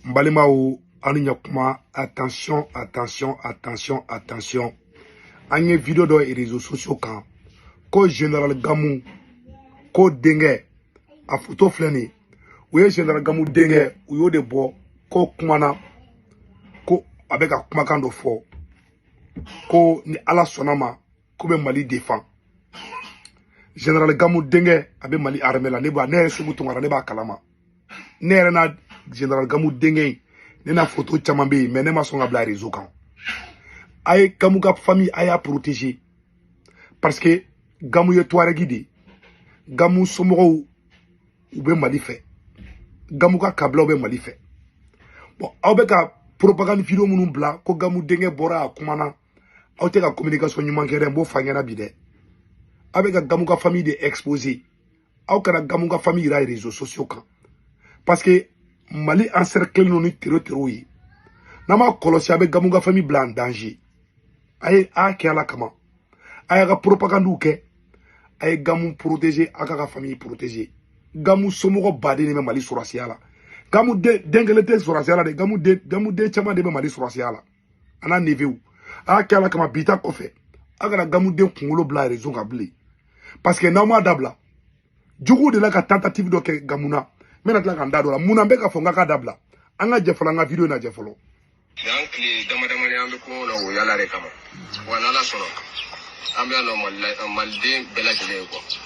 n balimaw aw ni ɲakuma attention attention attention attention an ye video dɔ réseaux sociaux kan ko général gamu ko denkɛ a foto filɛ nin u ye général gamu denkɛ u y'o de bɔ ko kumana ko a bɛ ka kumakan dɔ fɔ ko ni ala sɔnna ma k'u bɛ mali defan général gamu denkɛ a bɛ mali armée la ne b'a ne yɛrɛ seku tunkara ne b'a kalama ne yɛrɛ na général gamu denkɛ in ne n'a foto caman bɛ yen mais ne ma sɔn k'a bila réseau kan a ye gamu ka famille a y'a protéger parce que gamu ye tuaregi de ye gamu somɔgɔw u bɛ mali fɛ gamu ka kabilaw bɛ mali fɛ bon aw bɛ ka propagande video minnu bila ko gamu denkɛ bɔra a kumana aw tɛ ka communication ɲuman kɛ dɛ n b'o f'aw ɲɛna bi dɛ aw bɛ ka gamu ka famille de exposer aw kana gamu ka famille yira réseaux sociaux kan parce que mali encerclelen don ni tero tero ye n'a m'a kɔlɔsi a bɛ gamu ka famille bila en danger a ye a kɛ ala kama a y'a ka propagandiw kɛ a ye gamu protéger a k'a ka famille protéger gamu somɔgɔ baden de bɛ mali sɔrɔsiya la gamu den kelen tɛ sɔrɔsiya la dɛ gamu den gamu den caman de bɛ mali sɔrɔsiya la a n'a neveuw a y'a kɛ ala kama bi ta kɔfɛ a kana gamu den kunkolo bila réseau kan bilen parce que n'aw m'a dabila juguw de la ka tentative dɔ kɛ gamu na n bɛna tila ka n da don a la mun na n bɛ k'a fɔ an ka k'a dabila an ka jɛ fɔlɔ an ka video in lajɛ fɔlɔ yan tile dama dama de an bɛ kungo la o yala de kama wa n'ala sɔnna an bɛ yan nɔ maliden bɛɛ lajɛlen ye quoi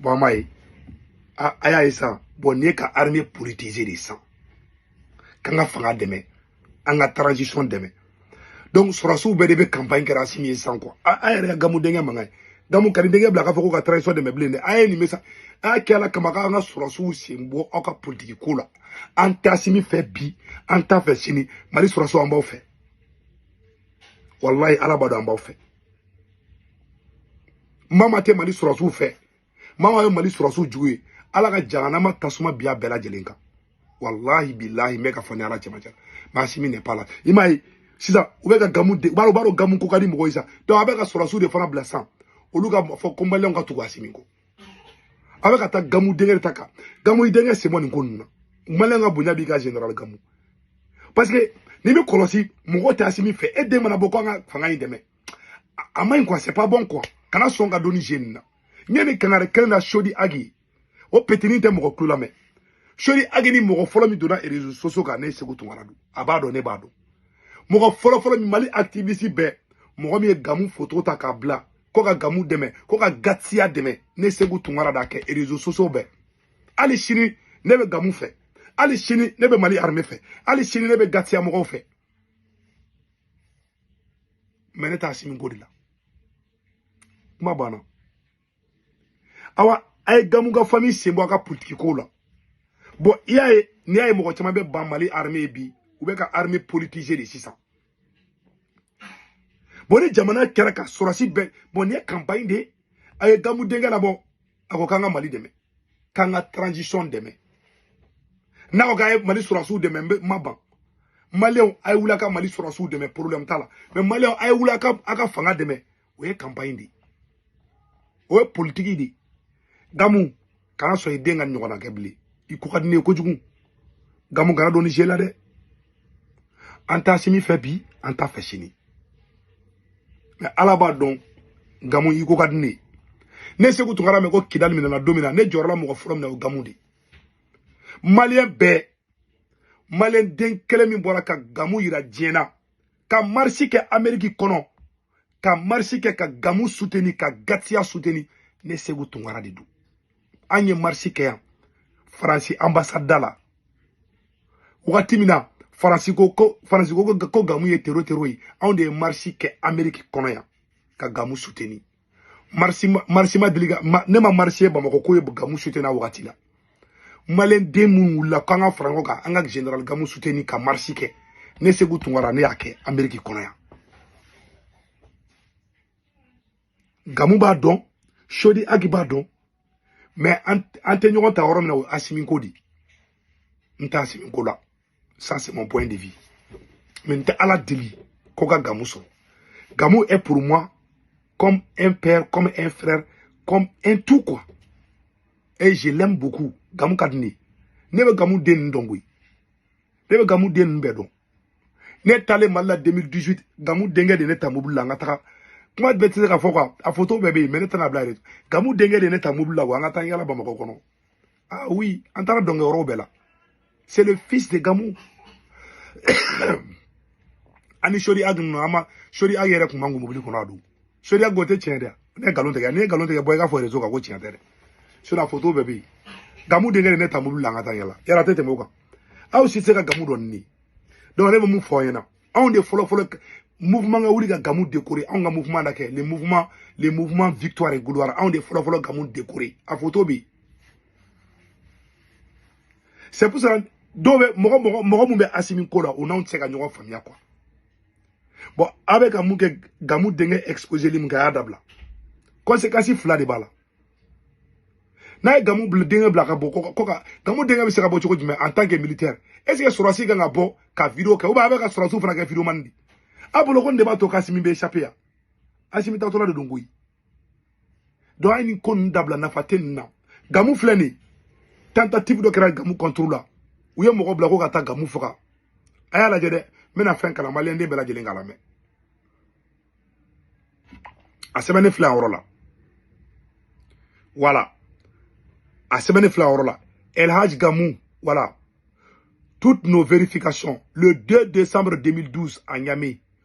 bon m'a ye a y'a ye san bon nin ye ka armée politiser de san k'an ka fanga dɛmɛ an ka transition dɛmɛ donc sɔrɔsiw bɛɛ de bɛ campagne kɛra asimi ye san quoi a yɛrɛ ka gamu denkɛ mankan ye gamu kan'i denkɛ bila k'a fɔ ko ka transition dɛmɛ bilen dɛ a ye nin bɛ sa a y'a kɛ ala kama k'an ka sɔrɔsiw sen bɔ aw ka politiki ko la an t'asimi fɛ bi an t'a fɛ sini mali sɔrɔsiw an b'aw fɛ walayi ala b'a dɔn an b'aw fɛ maa maa tɛ mali sɔrɔsiw fɛ maa maa ye mali sɔrɔsiw jugu ye ala ka jahanama tasuma bin a bɛɛ lajɛlen kan walahi bilahi n bɛ k'a fɔ ni ala cɛmancɛ mais asimi n'est pas là i m'a ye sisan u bɛ ka gamu de u b'a dɔn gamu ko ka di mɔgɔ ye sa donc a bɛ ka sɔrɔsiw de fana bila sisan olu k'a fɔ ko maliyɛnw ka tugu asimi kɔ a bɛ ka taa gamu denkɛ de ta kan gamu i denkɛ sen bɔ nin ko ninnu na maliyɛn ka bonya b'i kan général gamu parce que n'i bɛ kɔlɔsi mɔgɔ tɛ asimi fɛ e den mana bɔ ko an ka fanga in dɛmɛ a ma ɲi quoi c'est pas bon quoi kana sɔn ka don nin jeu in na n ye nin kangari kelen na sodi agi o petini tɛ mɔgɔ tulo lamɛn sodi agi ni mɔgɔ fɔlɔ min donna réseaux sociaux kan ne seku tunkara don a b'a dɔn ne b'a dɔn mɔgɔ fɔlɔ fɔlɔ min mali activiste bɛɛ mɔgɔ min ye gamu foto ta k'a bila ko ka gamu dɛmɛ ko ka gatiya dɛmɛ ne segu tunkara d'a kɛ réseaux sociaux bɛɛ hali sini ne bɛ gamu fɛ hali sini ne bɛ mali arme fɛ hali sini ne bɛ gatiya mɔgɔw fɛ mɛ ne t'asimi ko de la kuma banna awa a ye gamu ka fami sen bɔ a ka politiki kow la bɔn i y'a ye n'i y'a ye mɔgɔ caman bɛ ban mali arme ye bi u bɛ ka arme politise de sisan bɔn ni jamana kɛra ka sɔrɔsi bɛɛ bɔn nin ye kanpaɲi de ye a ye gamu denkɛ labɔ a ko k'an ka mali dɛmɛ k'an ka transition dɛmɛ n'a ko k'a ye mali sɔrɔsiw dɛmɛ n ma ban maliyɛnw a ye wuli a ka mali sɔrɔsiw dɛmɛ problème t'a la mɛ maliyɛnw a ye wuli a ka a ka fanga dɛmɛ o ye kanpaɲi de ye o ye politiki de ye gamu kana sɔn i den ka ɲɔgɔnna kɛ bilen i ko ka di ne ye kojugu gamu kana don nin jeu la dɛ an t'asimi fɛ bi an t'a fɛ sini mɛ ala b'a dɔn gamu i ko ka di ne ye ne segu tunkara mɛn ko kidali minɛna don min na ne jɔrɔla mɔgɔ fɔlɔ min na o gamu de ye maliyɛn bɛɛ maliyɛn den kelen min bɔra ka gamu yira diɲɛ na ka marisi kɛ ameriki kɔnɔ ka marisi kɛ ka gamu suteni ka gatiya suteni ne segu tunkara de don an ye marisi kɛ yan faransi anbasada la wagati min na faransi ko ko faransi ko ko gamu ye tero tero ye anw de ye marisi kɛ ameriki kɔnɔ yan ka gamu suteni marisi marisi ma deli ka ne ma marisi ye bamakɔ k'o ye gamu suteni a wagati la maliyɛn den minnu wulila k'an ka fara ɲɔgɔn kan an ka general gamu suteni ka marisi kɛ ne segu tunkara ne y'a kɛ ameriki kɔnɔ yan gamu b'a dɔn sodi agi b'a dɔn mɛ an tɛ ɲɔgɔn ta yɔrɔ min na o ye asimi ko de ye n t'asimi ko la ça c'est mon point de vue mais n tɛ ala deli ko ka gamu sɔrɔ gamu est pour moi comme un père comme un frère comme un tout quoi et je l'aime beaucoup gamu ka di ne ye ne bɛ gamu den ninnu dɔn koyi ne bɛ gamu den ninnu bɛɛ dɔn ne taalen mali la 2018 gamu denkɛ de ne ta mobili la an ka taga kuma bɛɛ tɛ se ka fɔ quoi a photo bɛɛ bɛ yen mais ne tɛna bila yɛrɛ gamu denkɛ de ne ta mobili la wa an ka taa yala bamakɔ kɔnɔ ah oui an taara dɔnkɛ yɔrɔw bɛɛ la c'est le fils de gamu ani sodi ag ninnu an ma sodi ag yɛrɛ tun ma kun mobili kɔnɔ a don sodi ag o tɛ tiɲɛ dɛ ne ye nkalon tigɛ ne ye nkalon tigɛ bɔ i k'a fɔ rezo kan ko tiɲɛ tɛ dɛ sinon a foto bɛɛ bɛ yen gamu denkɛ de ne ta mobili la an ka taa yala yala a tɛ tɛmɛ o kan aw si tɛ se ka gamu dɔn ni donc ne bɛ mun fɔ aw ɲɛna anw de fɔlɔ fɔlɔ mouvement ka wuli ka gamu décorer anw ka mouvement d'a kɛ le mouvement le mouvement victoire et gloire anw de fɔlɔ fɔlɔ gamu décorer a foto bɛ yen c'est pour ça dɔw bɛ mɔgɔ mɔgɔ mɔgɔ min bɛ asimi ko la o n'anw tɛ se ka ɲɔgɔn faamuya quoi bon aw bɛ ka mun kɛ gamu denkɛ exposeli min kɛ a y'a dabila conséquence fila de b'a la n'a ye gamu bila denkɛ bila ka bɔ ko ka gamu denkɛ bɛ se ka bɔ cogo jumɛn en tant que militaire est ce que sɔrɔsi kan ka bɔ ka video kɛ ou bien a bɛ ka sɔrɔsiw fana kɛ videomani de a bolo ko nin de b'a to k'asimi bɛ échapper yan asimi taatɔla de don koyi donc a ye nin ko ninnu dabila nafa tɛ nin na gamu filɛ nin ye tentative dɔ kɛra gamu contre la u ye mɔgɔ bila ko ka taa gamu faga a y'a lajɛ dɛ n bɛna fɛn kalan maliyɛnden bɛɛ lajɛlen k'a lamɛn a sɛbɛnnen filɛ a yɔrɔ la voilà a sɛbɛnnen filɛ a yɔrɔ la elhaj gamu voilà toutes nos vérifications le 2 décembre 2012 à Niamey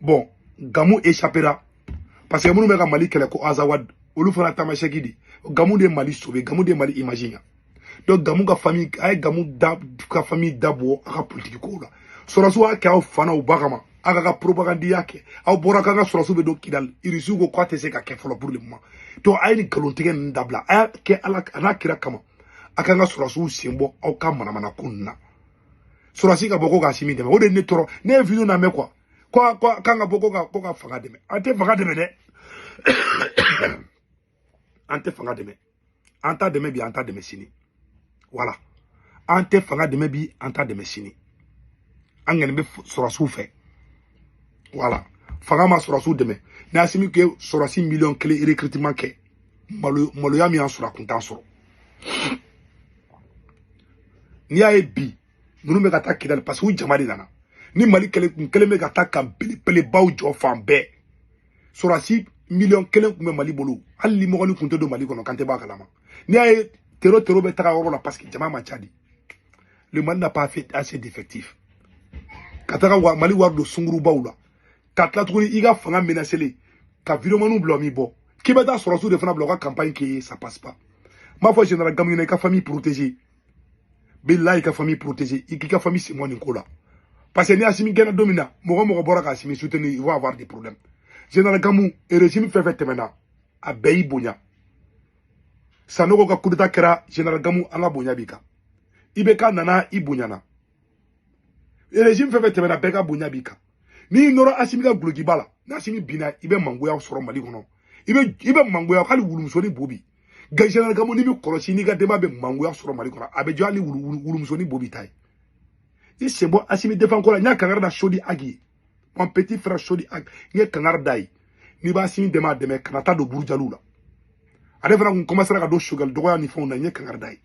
bon gamu échappéra parce que minnu bɛ ka mali kɛlɛ ko azawad olu fana tamasɛki de gamu de ye mali sauver gamu de ye mali image ɲa donc gamu ka famille a ye gamu da ka famille da bɔ a ka politiki kow la sɔrɔsiw y'a kɛ aw fana u ba kama a ka ka propagandiya kɛ aw bɔra k'an ka sɔrɔsiw bɛ don kidali irisiw ko k'a tɛ se ka kɛ fɔlɔ pour le moment donc a ye nin nkalontigɛ ninnu dabila a y'a kɛ ala an'a kira kama a k'an ka sɔrɔsiw sen bɔ aw ka manamanako ninnu na sɔrɔsi ka bɔ ko k'asimi dɛmɛ o de ne tɔɔrɔ ne ye video lamɛn quoi ko ko k'an ka bɔ ko ka ko ka fanga dɛmɛ an tɛ fanga dɛmɛ dɛ an tɛ fanga dɛmɛ an t'a dɛmɛ bi an t'a dɛmɛ sini voilà an tɛ fanga dɛmɛ bi an t'a dɛmɛ sini an kɔni bɛ sɔrɔsiw fɛ voilà fanga ma sɔrɔsiw dɛmɛ n'asimi kun ye sɔrɔsi miliyɔn kelen recrutement kɛ malo maloya min y'an sɔrɔ a kun t'an sɔrɔ n'i y'a ye bi ninnu bɛ ka taa kidali parce que u jama de nana ni mali kelen kun kelen bɛ ka taa camp belebelebaw jɔ fan bɛɛ sɔrɔsi miliyɔn kelen kun bɛ mali bolo hali limɔgɔnin kun tɛ don mali kɔnɔ k'an tɛ bɔ a kalama n'i y'a ye tero tero bɛ taga yɔrɔ la parce que jama man ca de le mali n'a pas assez d'effectif ka taga mali wari don sungurubaw la ka tila tuguni i ka fanga menacélen ka videomaniw bila o m'i bɔ k'i bɛ taa sɔrɔsiw de fana bila u ka campagne k'i ye ça passe pas n b'a fɔ général gamu ye i ka famille protéger bilayi i ka famille protéger i k'i ka famille sen bɔ nin ko la parce que ni asimi gɛnna don min na mɔgɔ o mɔgɔ bɔra ka asimi soutenir il va avoir des problèmes général gamu régime fɛn o fɛn tɛmɛna a bɛɛ y'i bonya sanogo ka kudeta kɛra général gamu an ka bonya b'i kan ibk nana i bonyana régime fɛn fɛn tɛmɛna bɛɛ ka bonya b'i kan n'i nɔrɔ asimi ka dulokiba la n'asimi binna i bɛ mangoya sɔrɔ mali kɔnɔ i bɛ i bɛ mangoya hali wulumusonin bobi général gamu n'i m'i kɔlɔsi n'i ka denba bɛ mangoya sɔrɔ mali kɔnɔ a bɛ jɔ hali wulumusonin bobi ta ye i sen bɔ asimi defan ko la n ye kankari da chodi ag ye mon petit frère chodi ag n ye kankari d'a ye n'i b'asimi dɛmɛ a dɛmɛ kana taa don burujaliw la ale fana kun kɔmasera ka don choguel dɔgɔya ni fɛnw na n ye kankari d'a ye